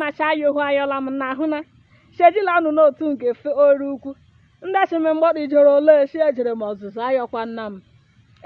nacha ya ohu ayọla m na ahụ na shejila ọnụ n'otu nke fe oru ukwu ndị achịme mgbọdụ ijoro ole shi ejere m ọzụzụ ayọkwana m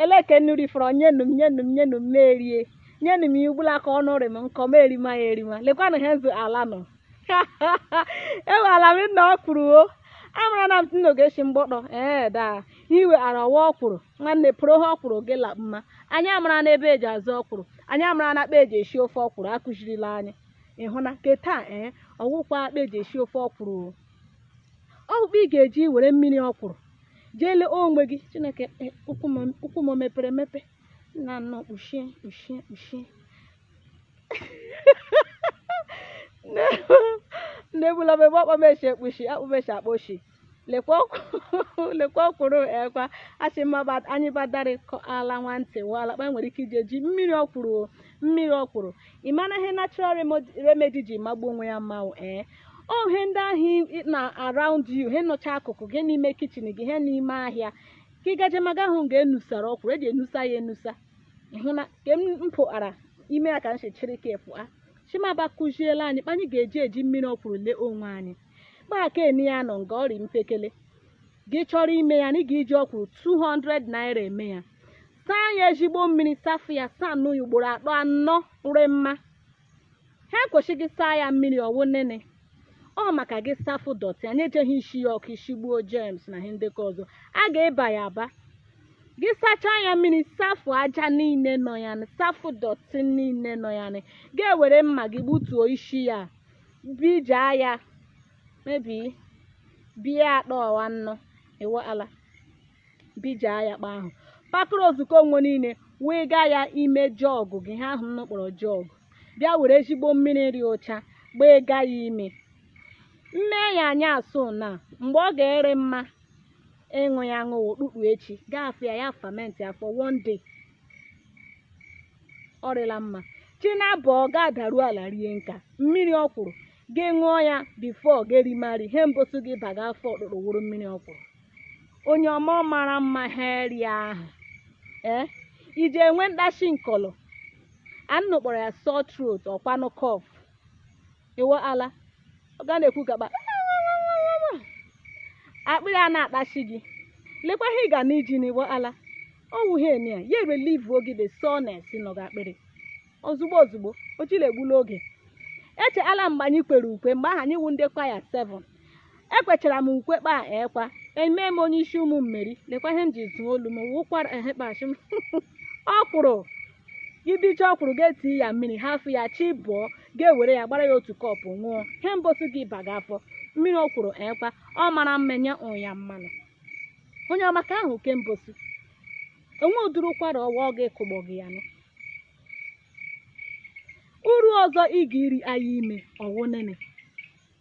elee ke nnụ rifọrọ nyenu m nyenu m nyenu m m rie nyenu m ya ugbula ka ọnụ rị m nkọ m erima ya erima lekwanụ ha nzu ala nọ Iweala m nna ọkwụrụ o amara na m nnoge shi mgbọdọ ee daa iwe ara ọwa ọkwụrụ nwanne pụrụ ha ọkwụrụ gị la mma anyị amarana ebe eji azụ ọkwụrụ anyị amarana kpa eji esi ofe ọkwụrụ akụzirila anyị ịhụna ke taa ee ọwụkwa kpa eji esi ofe ọkwụrụ o ọwụ kpa ị ga-eji were mmiri ọkwụrụ jee lee onwe gị chineke e, ụkwụ m ụkwụ m o mepere emepe nna nnọọ kpuchie kpuchie kpuchie na-egbula m ebe ọkpọ m eche ekpuchi akpụ m eche akpa ochi lekwa ọkwụ- lekwa ọkwụrụ ekwa asị mma bat- anyị badarịkọ ala nwantị wala kpa nwere ike iji eji mmiri ọkwụrụ o, mmiri ọkwụrụ ị mara ihe natural remod- remedy ji magbuo onwe ya mmanwụ ee ọ ihe ndị ahụ ị- na around you ihe nọcha akụkụ gị n'ime kichin gị ihe n'ime ahịa ka ị gaje maga ahụ nga enusara ọkwụrụ eji enusa ya enusa ịhụ na ka m pụara ime ya ka m si chịrị ka pụa chimaba kụziela anyị kpa anyị ga-eji eji mmiri ọkwụrụ lee onwe anyị maka eni ya nọ nga ọrị mpekele gị chọrọ ime ya na ị ga-eji ọkwụrụ 200 naira eme ya saa ya ezigbo mmiri safụ ya saa nụ ya ugboro atọ anọ nre mma ha kwesị gị saa ya mmiri ọwụ nene ọ maka gị safụ dọtị anyị ejeghị isi ya ọkụ isigbuo jems na ihe ndị ọzọ a ga-eba ya aba gị sachaa ya mmiri safụ aja niile nọ ya safụ dọtị niile nọ ya gị ewere mma gị gbutuo isi ya bija ya mebi bia atọ anọ Iweala bija ya kpa ahụ pakụrụ ozukọ onwe niile wee gaa ya ime jọgụ gị ihe ahụ nnụ kpọrọ jọgụ bịa were ezigbo mmiri rị ụcha gbaiga ya ime mme ya anya asụ na mgbe ọ ga-arị mma ịṅụ ya aṅụ wụ ụtụtụ echi gị ahafụ ya ya famenti for one day ọ rịla mma chi na-abọ ga-adaru ala rie nka mmiri ọkwụrụ gị ṅụọ ya bifo gị erimari ihe mbụsụ gị baga afọ ụtụtụ wụrụ mmiri ọkwụrụ onye ọma ọ mara mma ha rie ahụ ee iji enwe mkpachi nkọlọ a nnụ kpọrọ ya sore throat ọkwanụ cough Iweala ị ga na-ekwu gaba akpịrị a na-akpachi gị lekwa ihe ị ga na iji Iweala ọ wụ ihe eni ya ya relivuo gị the soreness nọ gị akpịrị ozugbo ozugbo o jile egbula oge echeala mgbe anyị kwere ukwe mgbe ahụ anyị wu ndị kwaya ekwechara m ukwe kpa ekwa eme m onye isi ụmụ mmeri lekwa ihe m ji tụọ olu m wụ ụkwara ehe kpachi m ọkwụrụ ị bicha ọkwụrụ ga-eti ya mmiri hafụ ya chi bọọ ga-ewere ya gbara ya otu kọpụ ṅụọ ihe mbosi gị aba gị afọ mmiri ọkwụrụ ekwa ọ mara mmenye ụnya mmanụ onye ọma ka ahụ ke mbosi enwe ụdịrị ụkwara ọwa ọ ga-ekụgbọ gị ya nụ uru ọzọ ị ga-eri anyị ime ọ wụ nene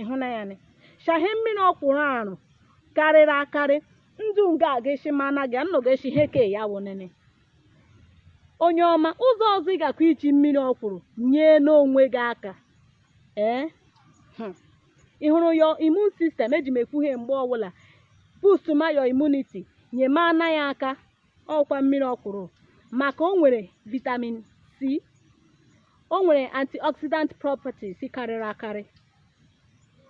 ị hụna ya nị shahe mmiri ọkwụrụ arụ karịrị akarị ndụ nga a ga-esi ma na gị anọ ga-esi ihe ke ya wụ nene onye ọma ụzọ ọzọ ị gakwa iji mmiri ọkwụrụ nyena onwe gị aka ee hmm. ị hụrụ your immune system eji m ekwu ihe mgbe ọbụla boost ma your immunity nyemana ya aka ọ wụkwa mmiri ọkwụrụ maka o nwere vitamin C o nwere antioxidant properties karịrị akarị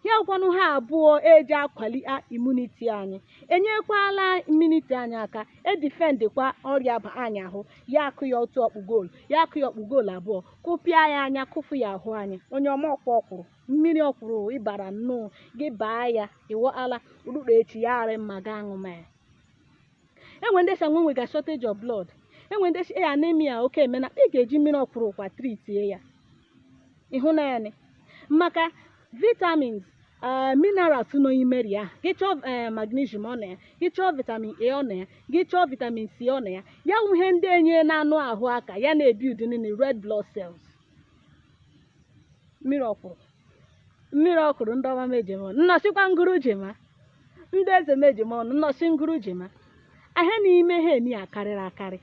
ya ọkwanụ ha abụọ eji akwali immunity anyị enyekwala immunity anyị aka edifendịkwa ọrịa ba anyị ahụ ya akụ ya otu ọkpụ goolu ya akụ ya ọkpụ goolu abụọ kụpịa ya anya kụfụ ya ahụ anyị onye ọma ọkwa ọkwụrụ mmiri ọkwụrụ ị bara nnọọ gị baa ya ịwọala ụtụtụ echi ya arị mma gị aṅụma ya enwe ndị sa enwega shortage of blood enwe ndị e anemia oke emena ị ga-eji mmiri ọkwụrụkwa tritie ya ị hụna nị maka vitamins eh, minerals nọ n'ime ri ahụ gị chọọ eh, magnesium ọ na ya gị chọọ vitamin a ọ na ya gị chọọ vitamin c ọ na ya ya wụ ihe ndị enyena anụ ahụ aka ya na-ebiudi nịnị red blood cells mmiri ọkwụrụ mmiri ọkwụrụ ndị ọma mejem ọnụ nnọsịkwa ngụrụ jema ndị eze mejem ọnụ nnọsị ngụrụ jema ahịa n'ime ha eni akarịrị akarị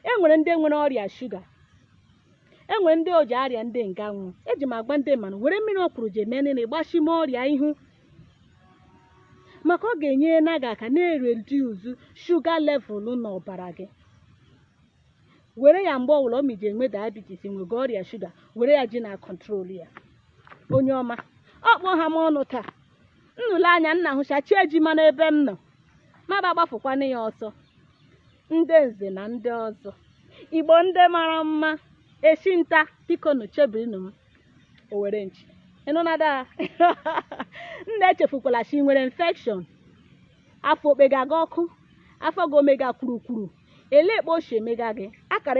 e nwere ndị nwere ọrịa shuga e nwere ndị ọ ji arịa ndị nga nwụ eji m agwa ndị mmanụ were mmiri ọkwụrụ ji eme nịnị gbachime ọrịa ihu maka ọ ga-enyena gị aka na-ereduzu shuga level n'ọbara gị were ya mgbe ọbụla ị ma i ji enwe diabetes enwega ọrịa shuga were ya ji na kọntrol ya onye ọma ọkpọ ha m ọnụ taa nnụle anya nna hụcha chi ejima n'ebe m nọ maba gbafụkwana ya ọsọ ndị nze na ndị ọzọ igbo ndị mara mma echi nta biko nụ chebirinu m owere nchi ị nụna daa nna echefukwala sị nwere infection afọ okpega gị ọkụ afọ gị omega kwurukwuru ele ekpe ochie mega gị akara